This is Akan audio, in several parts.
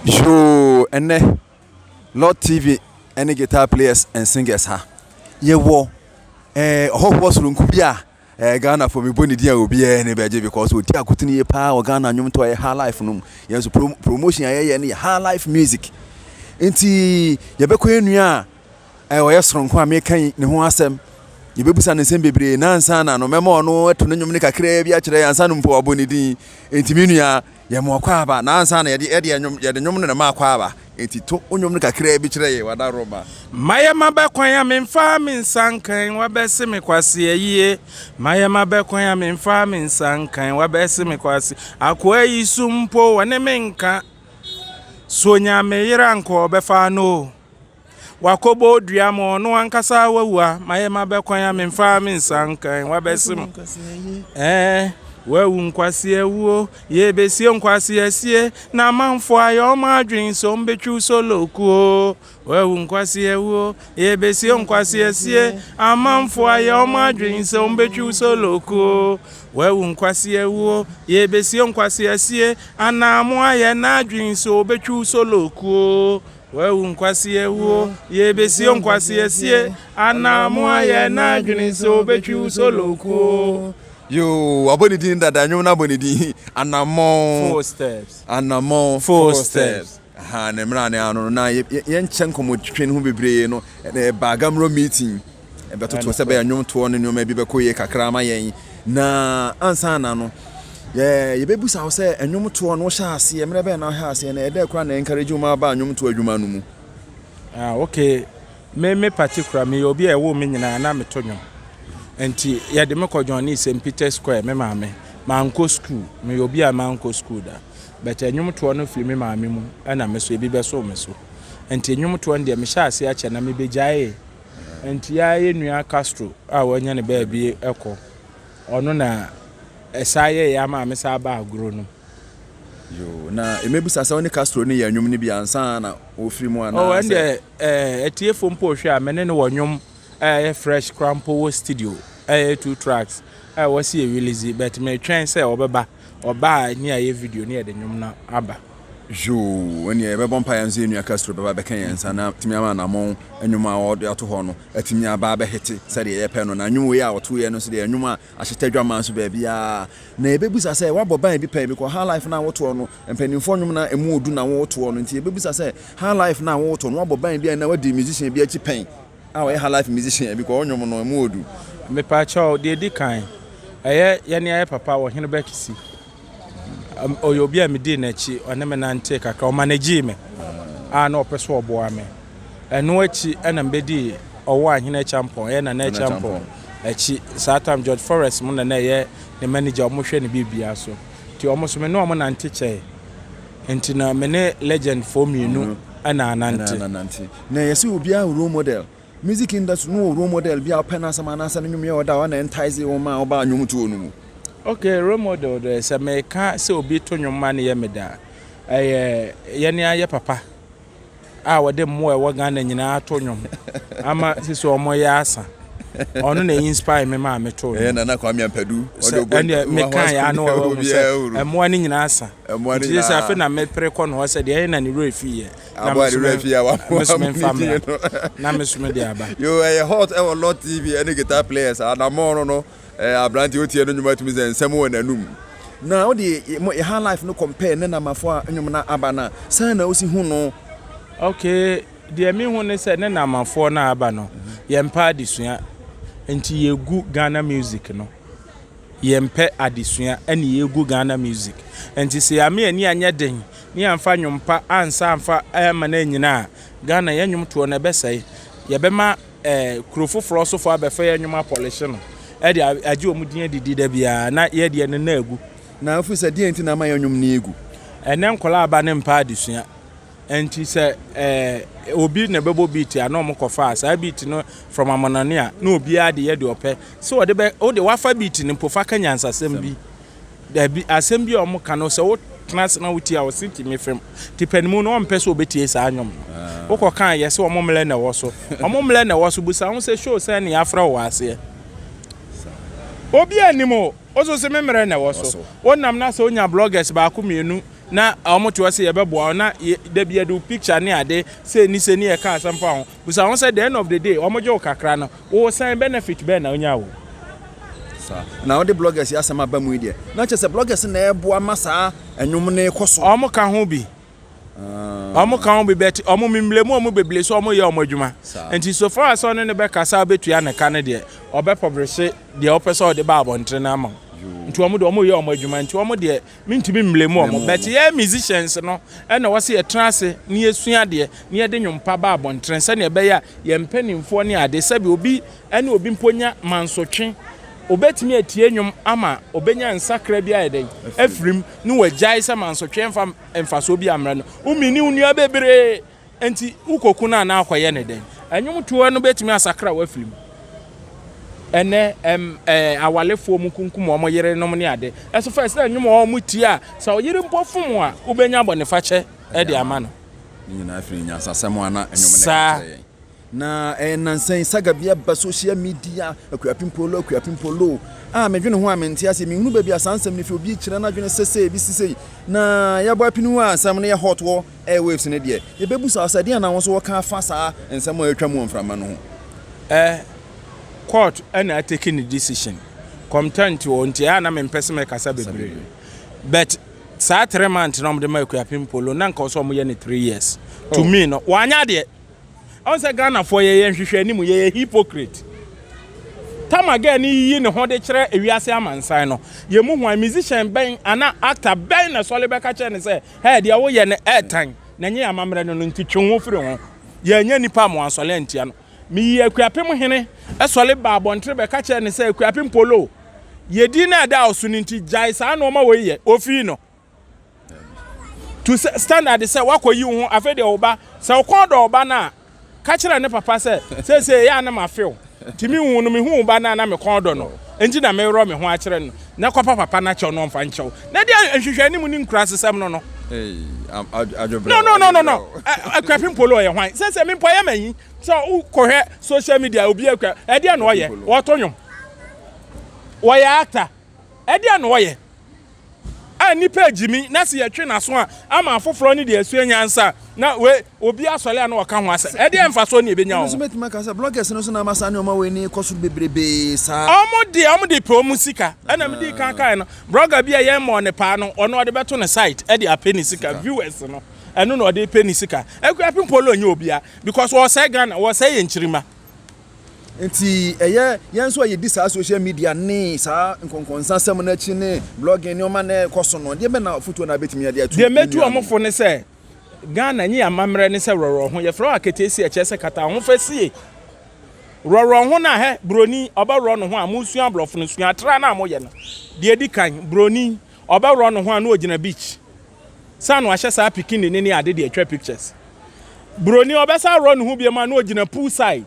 Yoo ɛnɛ lord tv ɛne guitar players and singers ha yɛwɔ ɛɛ eh, ɔhɔhoɔ soronko bi a ɛɛ eh, ghana fo mebɔ ne din a obiara ne bɛgye because ɔdi akotene yie paa wɔ ghana nnwom to a yɛ ha life no mu yɛn nso prom promotion a yɛyɛ no yɛ ha life music nti yɛbɛkɔ yɛn nua a ɛɛ eh, ɔyɛ soronko a meka yi ne ho asɛm yɛbɛbusa ne nsɛm bebree nansa na no mɛma ɔno ɛto ne nnwom no kakraa bi akyerɛ yɛn ansa no mpo wabɔ ne din nti me nua Yɛma ɔkwaaba na ansa na yɛde yɛde nnwom yɛde nnwom no na ɛma akwaaba enti to wo nnwom no kakraa bi kyerɛ yɛn w'adaworoma. Mayɛ mabɛ kwan a memfaa me nsa nkan wabɛse me kwasea yie Mayɛ mabɛ kwan a memfaa me nsa nkan wabɛse me kwasea Akoa yi so mpo wɔne me nka So ɔnya me yere anka ɔbɛfa no o Wakɔbɔ dua ma ɔno ankasa wawua ma yɛ ma bɛkwan a memfa me nsa nkan wabɛse mo ɛɛ wawu nkwaseɛ wuo yɛbɛsie nkwaseɛ sie na amanfoɔ ayɛ ɔma adwene sɛ ɔmbɛtwiw solo kuo wawu nkwaseɛ wuo yɛbɛsie nkwaseɛ sie amanfoɔ ayɛ ɔma adwene sɛ ɔmbɛtwiw solo kuo wawu nkwaseɛ wuo yɛbɛsie nkwaseɛ sie anaa mo ayɛ n'adwene sɛ ɔbɛtwiw solo kuo Wawu nkwasea wuo, yɛrebɛsi ɔnkwasea sie, anaa mo ayɛ n'adwene sɛ ɔbɛtwi wo solo kuo. Yoo, wabɔ ne din dada, nnwom no abɔ ne din, anammɔn. Four steps. Anammɔn. Four, four steps. steps. Aha, ne mmerɛ a ne ano no, na yɛnkyɛ nkɔmmɔtwitwa no ho bebree no, ɛbaa Gamro meeting. Ɛbɛtoto sɛ ɛbɛyɛ nnwomtoɔ ne nneɛma bi bɛkɔ yie kakra ama yɛn. Na ansa na no, yɛ yɛbɛbisa wo sɛ nnwomtoɔ no wohyɛ aseɛ, mmerɛ bɛn na wohyɛ aseɛ na ɛdɛ koraa na encourage wo ma aba nnwomtoɔ adwuma no mu? Ah, okay. Me me particular, meyɛ obi a ɛwoo me nyinaa na meto nnwom. Nti yɛde me kɔ John Lee St. Peter's Choir, me maame. Mankɔ school, meyɛ obi a mankɔ school da. But nnwomtoɔ no firi me maame mu ɛna me so, ebi bɛsoo me so. Nti nnwomtoɔ no deɛ mehyɛɛ aseɛ akyɛ na mebɛgyaee. Nti aa yɛ nua Castro a wanya ne baabi kɔ ɔno na ɛsaa yɛ yɛ ama me saa ba agorɔ nom. Yoo na mɛbisa sɛ wo ne Castro no yɛɛ nwom no bi ansa na wofiri mu anaa sɛ. Oh ɛndeɛ ɛɛ atiefo mpo rehwɛ a me ne no wɔ nwom a ɛyɛ fresh koraa mpo wɔ studio a ɛyɛ two tracks a wɔsi yɛ release but meretwɛn sɛ ɔbɛba. Ɔbaa a nea yɛ video ne yɛde nwom no aba. Yoo ɛneɛ yɛbɛbɔ mpaeɛ nso yɛn nua Castro bɛba bɛka yɛn nsa na atumi ama anamɔn nnwom a ɔde ato hɔ no atumi aba abɛhete sɛdeɛ yɛpɛ no na nnwom wei a ɔtoeɛ no nso deɛ nnwom a ahyeta dwaman so baabiara na yɛbɛbusa sɛ woabɔ ban bi pɛn because high life no a wotoɔ no mpanimfoɔ nnwom na ɛmu ɔdu na wotoɔ no nti yɛbɛbusa sɛ high life no a wotoɔ no woabɔ ban bi a na wadi musician bi akyi pɛn a ɔyɛ halaife musician bi kɔ ɔnwom no mu odu. Mepakyɛw, deɛ ɛdi kan, ɛyɛ yɛne ayɛ papa wɔ Hene Bɛkisi. Ɔyɛ obi a medii n'akyi, ɔne me nantee kakra, ɔmanagyee me a na ɔpɛ sɛ ɔboa me. Ɛno akyi na mebɛdii ɔwɔ a Hene Acheampong, ɛyɛ Nana Acheampong akyi. Saa tam George Forrest mo na na ɛyɛ ne manager, wɔhwɛ ne biribiara so. Nti wɔn nso me ne wɔn nante kyɛe. Nti na me ne legendfoɔ mmienu na anante. Na ɛyɛ sɛ obiara wɔ role model. Music industry no wɔ role model bi a ɔpɛ n'asɛm anaasɛ ne nnwom yɛ ɔdɔ a ɔno na entice wo ma wobaa nnwomtoɔ no mu? Okay, role model deɛ sɛ meka sɛ obi to nnwom ma no yɛ me dɛ a, ɛyɛ yɛne ayɛ papa a wɔde mmoa a ɛwɔ Ghana nyinaa ato nnwom ama sisi wɔyɛ asa. Ɔno na inspire me maa metoo nnwom. Ɛyɛ Nana Kwame Ampadu. Sɛ ɛneɛ meka yɛ ano wɔwɔ mu sɛ mmoa no nyinaa asa. Nti sɛ afei na mepere kɔ no hɔ sɛ deɛ ɛyɛ na ne werɛ fiiɛ. na Aboa de wura fie a wamoa mo mesome ne mfa mmra fie no. na mesome de aba. Yo, ɛyɛ hot ɛwɔ Lord TV ɛne guitar players anammɔn no no ɛɛ aberante wotie no nnwom a tumi sɛ nsɛm wɔ n'anum. Na wode yɛ mo yɛ highlife no compare ne Namafo a nnwom no aba no a, sɛn na wosi hu no? Ok, deɛ me hu ne sɛ ne Namafoɔ no a aba no yɛmpɛ adesua nti yɛgu Ghana music no, yɛmpɛ adesua ɛne yɛgu Ghana music nti sɛ yɛama yɛn ani anyɛ den Ne yɛamfa nnwom pa ansa amfa amma no annyina a, Ghana yɛn nnwom toɔ no ɛbɛsɛe. Yɛbɛma kuro foforɔ sofoɔ abɛfa yɛn nnwom apɔlehye no de agye wɔn din adidi da biara na yɛn deɛ no na agu. Na ɛfiri sɛ deɛn nti na ama yɛn nnwom no agu? Ɛnnɛ nkwadaa aba no mpɛ adesua. Ɛnti sɛ obi na ɛbɛbɔ beat a na wɔkɔfa saa beat no from amanɔne a na obiara de yɛ deɛ ɔpɛ. Sɛ ɔde bɛ, wo deɛ wafa beat no mpo fa ka nyansasɛm bi. Dabi, asɛm bi a wɔka no, sɛ wotena ase na wotie a, ɔse timi fam. Nti pɛ ne mu no, ɔmpɛ sɛ obetie saa nnwom no. Wokɔka a, yɛse wɔn mmrɛ na ɛwɔ so. Wɔn mmrɛ na ɛwɔ so. Bisa ho sɛ, Show sɛn na yɛafrɛ wo wɔ aseɛ? Obiara nnim o. Wo nso se me mmrɛ na ɛwɔ so. Wonam na sɛ wonya bloggers baako mmienu na wɔte hɔ sɛ yɛbɛboa wo na dabi yɛde wo picture ne ade sei ne sei ne yɛka asɛm fa wo ho. Bisa ho sɛ, the end of the day wɔgye wo kakra no, wo sɛn benefit bɛn na onya wo? Saa na wode bloggers yi asɛm aba mu yi deɛ, na kyerɛ sɛ bloggers na ɛboa ma saa ɛnwom no rekɔ so. Wɔn ka ho bi. Wɔn ka ho bi but wɔn mimlɛ mu wɔn bebree so wɔn yɛ wɔn adwuma. Nti so far as sɛ ɔne no bɛ kasa ɔbɛtua ne ka no deɛ, ɔbɛ publish deɛ ɔpɛ sɛ ɔde ba abɔntene no ama wo. Nti wɔn deɛ wɔn yɛ wɔn adwuma nti wɔn deɛ. Mentumi mblame wɔn but yɛɛ musicians no na ɛwɔ sɛ yɛtena ase na yɛsua adeɛ na yɛde nwom pa ba abɔntene sɛdeɛ ɛbɛyɛ a yɛn mpaninfoɔ ne adeɛ sɛbi obi ne obi mpo nya mansotwe obɛtumi atie nwom ama obɛnya nsakra bi ayɛ dɛn afirim ne wagyae sɛ mansotwe mfa mfasoɔ bi ammrɛ no wo mini wo nua bebree Enti wokɔku no anaa wokɔyɛ no dɛn? Nnwomtoɔ no bɛtumi asakra w'afiri mu. Ɛnnɛ ɛm ɛɛ awalefoɔ mu kunkum wɔn yerenom ne ade. Ɛso fɛ sɛ nnwom a wɔtie a sɛ wo yere mpo fom wo a wobɛnya bɔnefakyɛ de ama no. Ne nyinaa firi nyansasɛm a na nnwom no ka kyerɛ yɛn. Na ɛyɛ nnansa yi, saga bi aba social media, Akuapim-Polo, Akuapim-Polo, a medwene ho a mente aseɛ. Menhunu baabi a saa nsɛm no fi, obi rekyerɛ n'adwene sese, ebi si sei. Na yɛabɔ apini wɔ asɛm no yɛ hot wɔ airwaves no deɛ, yɛbɛbusa wo sɛ, ɛdeɛn na wo nso woka afa saa nsɛm a ɛretwam wɔ mframa no ho? Eh, court na atake ne decision, comtent o, nti ɛyɛ a na mempɛ sɛ mɛkasa bebree. But saa three months na wɔde maa Akuapim-Polo no, na nka wɔsɛ wɔyɛ no three years. To me no, wanyɛ adeɛ. Ɔn sɛ Ghana foɔ yɛyɛ nhwehwɛ anim yɛyɛ hypocrite. Tama girl no yiyi ne ho de kyerɛ ewiase amansan no yɛ mu hwan musician bɛn ana actor bɛn na sɔle bɛka kyerɛ no sɛ hɛɛ deɛ wo yɛ no ɛɛtan na nyɛ amammerɛ no no nti twe ho firi ho yɛ nyɛ nipa mo ansɔle antia no me yi Akuapem hene sɔle ba abɔntere bɛka kyerɛ no sɛ Akuapem polo yɛ din no ɛda wo so no nti gyae saa nnoɔma wei yɛ ofii no Tu sɛ standard sɛ woakɔyi wo ho. Afei deɛ wo ba, sɛ wo kɔn dɔ wo ba no a, ka kyerɛ ne papa sɛ, Seesei ɛyɛ a na mafe wo. Nti me wu no, mehu wo ba no a na me kɔn dɔ no nti na merewerɛ me ho akyerɛ no. Na kɔpa papa no akyɛw na ɔmfa nkyɛ wo. Na di nhwehwɛanim ne nkuraasesɛm no no. No, no, no, no, no. Akuapem Polo yɛ hwan? Seesei me mpo ɛyɛ me ahi sɛ wokɔhwɛ social media a obiara kura. Ɛdeɛn na ɔyɛ? Ɔreto nnwom. Ɔyɛ actor. Ɛdeɛn na ɔyɛ a nnipa regye mi na sɛ yɛtwe n'aso a ama afoforɔ ne deɛ asua nyansa na wei obi asɔre a na ɔka ho asɛm. Ɛdeɛn mfasoɔ na yɛbɛnya wɔ ho? Ebi nso bɛtumi aka sɛ bloggers no nso na ama saa nneɛma wei no rekɔ soro bebrebe saa. Wɔn deɛ wɔn de pɛ wɔn sika. Ɛna me dii kan kaeɛ no, blogger bi a yɛn mmɔɔ ne paa no, ɔno ɔde bɛto ne site de apɛ ne sika, viewers no, ɛno na ɔde repɛ ne sika. Akuapem Polo nyɛ obiara because ɔresɛe Ghana, ɔresɛe yɛn nkyirimma. Enti ɛyɛ yɛn nso a yɛdi saa social media ne saa nkɔnkɔnsasɛm no akyi ne blogging nneɛma na ɛkɔ so no, deɛ bɛ na afotuo na abɛtumi ade ato Deɛ mɛtu wɔn fo ne sɛ, Ghana nye amammerɛ ne sɛ rɔrɔho, yɛfrɛ hɔ aketeesie a ɛkyerɛ sɛ kataahofasie. Rɔrɔho no a hɛ, buroni, ɔbɛworɔ ne ho a, mosua aborɔfo no, sua atra no a moyɛ no. Deɛ ɛdi kan, buroni, ɔbɛworɔ ne ho a na ɔgyina beach. Sa no ahyɛ saa pikini ne ne ade de atwa pictures. Broni ɔbɛsa rɔ ne ho biom a na ogyina pool side.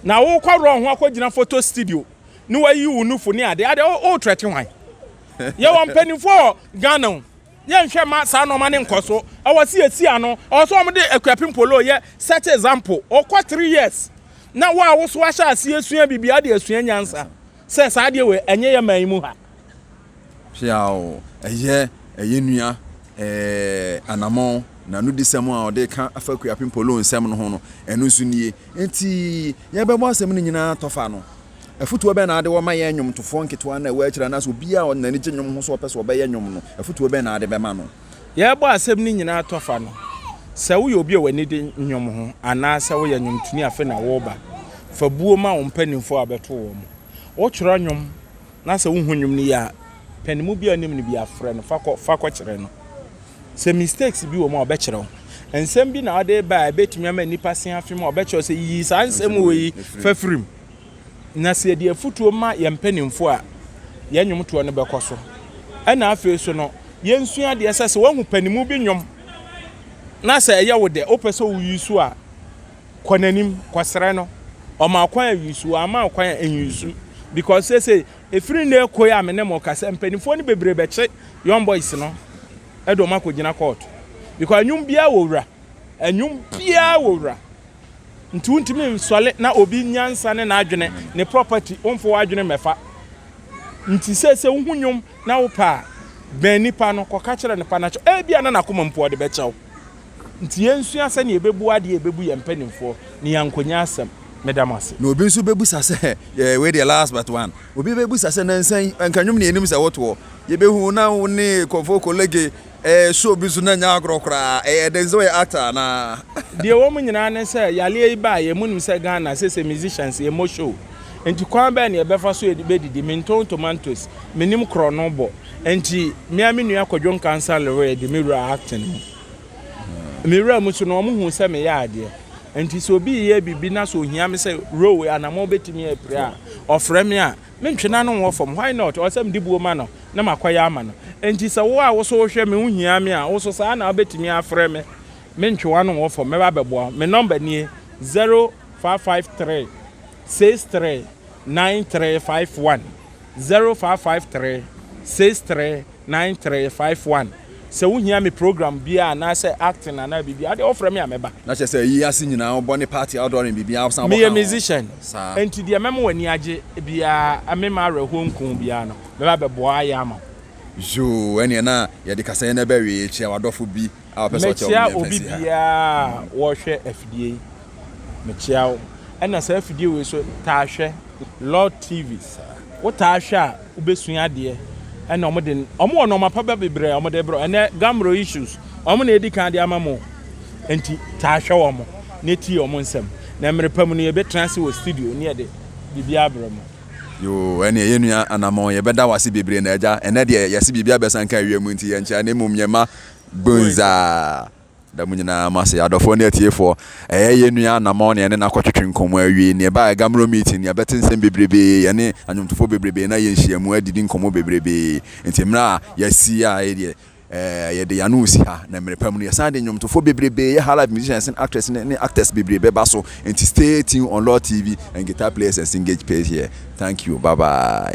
Na wo kɔ rɔ ho akɔ gyina photo studio ne wayi wo nufo ne ade ade o trɛte hwan? Yɛ wɔ mpaninfo wɔ Ghana o yɛ nhwɛ ma saa nɔma ne nkɔ so ɛwɔ se yɛ si ano ɛwɔ se wɔn de Akuapem Polo yɛ set example ɔkɔ three years na wo a wo so ahyɛ aseɛ sua bibia de asua nyansa. Sɛ, saa adeɛ wei, ɛnyɛ yɛ man yi mu ha. Hweaw, ɛyɛ, ɛyɛ nua, ɛɛ, anamɔn, na nudisɛm a ɔde reka afa Akuapem Polo nsɛm no ho no, ɛno nso nie. Enti, yɛbɛbɔ asɛm no nyinaa atɔfa ano. Afotuo bɛn na ade wɔ ma yɛn nnwomtofoɔ nketewa no a ɛwɔ akyire anaasɛ obiara a n'ani gye nnwom ho sɛ ɔpɛ sɛ ɔbɛyɛ nnwom no, afotuo bɛn na ade bɛma no? yɛrebɔ asɛm no nyinaa tɔfa no, sɛ woyɛ obi a w'ani de nnwom ho anaasɛ woyɛ nnwomtoni afe na woreba, fa buo ma wo mpanimfoɔ a wobɛto wɔn. Wotwerɛ nnwom na sɛ wohu nnwom no yie a, pɛ ne mu bi a wonim no biara frɛ no fa kɔ fa kɔkyerɛ no. Sɛ mistakes bi wɔ mu a, ɔbɛkyerɛ wo. Nsɛm bi na wode reba a ɛbɛtumi ama nnipa se afem a, ɔbɛkyerɛ wo sɛ, Yiyi saa nsɛm wei fa firi mu. Na sɛ yɛde afotuo ma yɛn mpanimfoɔ a, yɛn nnwomtoɔ no bɛkɔ so. Ɛna afei so no, yɛnsua adeɛ sɛ, sɛ woahu panimu bi nnwom na sɛ ɛyɛ wo dɛ, wopɛ sɛ woyi so a, kɔ n'anim, kɔsrɛ no. Ɔma wo kwan a, yi so, wamma wo kwan a, nyi so. Because seesei, ɛfiri nnɛ rekɔ yi a me ne mo rekasa, mpanimfoɔ no bebree bɛkye Young Boys no de wɔn akɔgyina kɔɔto. Because nnwom biara wɔ wura. Nnwom biara wɔ wura. Nti wontumi nsɔle na obi nyansa ne n'adwene, ne property, womfa w'adwene mmɛfa. Nti sɛ sɛ wohu nnwom na wopɛ a, bɛn nipa no, kɔka kyerɛ no pa na kyɛ. Ebia na n'akoma mpo ɔde bɛkyɛ wo. Nti yɛnsua sɛnea yɛbɛbu adeɛ a ɛbɛbu yɛn mpanimfoɔ na yɛankɔnya asɛm. Meda mo ase. Na obi nso bɛbisa sɛ, eh, wei deɛ last but one, obi bɛbisa sɛ, nansa yi, anka nnwom na yɛnim sɛ wotoɔ, yɛbɛhu wo na wo ne Kofo Kolege, Eh, show bi so na ɛnyɛ agorɔ koraa, ɛyɛ den sɛ ɔyɛ actor anaa? Deɛ ɛwɔ mu nyinaa ne sɛ yareɛ yi baa yɛ, monim sɛ Ghana seesei musicians yɛmmɔ show, nti kwan bɛn na yɛbɛfa so bɛdidi, mentɔn tomatoes, mennim korɔno bɔ, nti me ara me nua Kwadwo Nkansah Leroy de me wuraa acting mu. Mewuraa mu so no wɔn huu sɛ meyɛ adeɛ, nti sɛ obi reyɛ biribi na sɛ ohia me sɛ role anaa mobɛtumi apira a, ɔfrɛ me a, Me ntwe n'ano nwɔ fam, why not? Ɔsɛ mede buo ma no na makɔyɛ ama no. Enti sɛ wo a wo nso wohwɛ me, wohia me a, wo nso saa na wobɛtumi afrɛ me. Me ntwe w'ano nwɔ fam, mɛba abɛboa wo. Me nɔmba nie, zero five five three six three nine three five one, zero five five three six three Nine three five one Sɛ wo hia me program biaa anaa sɛ acting anaa biribiaa wodeɛ wofrɛ me a mɛba. Na kyerɛ sɛ ayi ase nyinaa wo bɔ ne party outdooring biribiaa wo san bɔ ka ho. Meyɛ musician saa. Nti deɛ mɛma wo ani agye biaa mema awerɛhoɔ nku wo biaa no mɛba abɛboa ayɛ ama wo. Yoo ɛneɛ na yɛde kasayɛ no bɛwee kyerɛ wadɔfo bi. Mekyea obi biara a wɔhwɛ afidie yi. Mekyea wo. Ɛna saa afidie wei so taa hwɛ Lord TV. Wo taa hwɛ a wobɛsua adeɛ. Ɛna wɔn de, wɔn wɔ nnoɔma pa ba bebree a wɔn de rebrɛ wo. Ɛnɛ Gamro issues, wɔn na edi kan de ama mo. Nti taa hwɛ wɔn na tie wɔn nsɛm. Na mmerɛ pa mu no yɛbɛtena ase wɔ studio ne yɛde biribiara abrɛ mo. Yoo ɛneɛ yɛn nua Anamɔn yɛbɛda wo ase bebree na agya ɛnɛ deɛ yɛse biribiara bɛsan ka wiem nti yɛnkyea na mmom yɛma Bunzah. Da mo nyinaa mo ase adɔfoɔ ne atiefoɔ. Ɛyɛ yɛn nua Anamɔn na yɛne no akɔtwetwe nkɔmmɔ awie. Na yɛbaeɛ Gammuro Meeting no, yɛabɛte nsɛm bebrebee, yɛne nnwomtofoɔ bebrebee na yɛnhyiamu adidi nkɔmmɔ bebrebee. Enti mmerɛ a yɛasi a yei deɛ ɛɛ yɛde yɛn ano resi ha. Na mmerɛ pa mu no, yɛsan de nnwomtofoɔ bebrebee, yɛ highlife musicians ne actress ne ne actors bebree bɛba so. Enti stay tuned on Lord TV and Guitar Players and Singage page here. Thank you. Bye bye.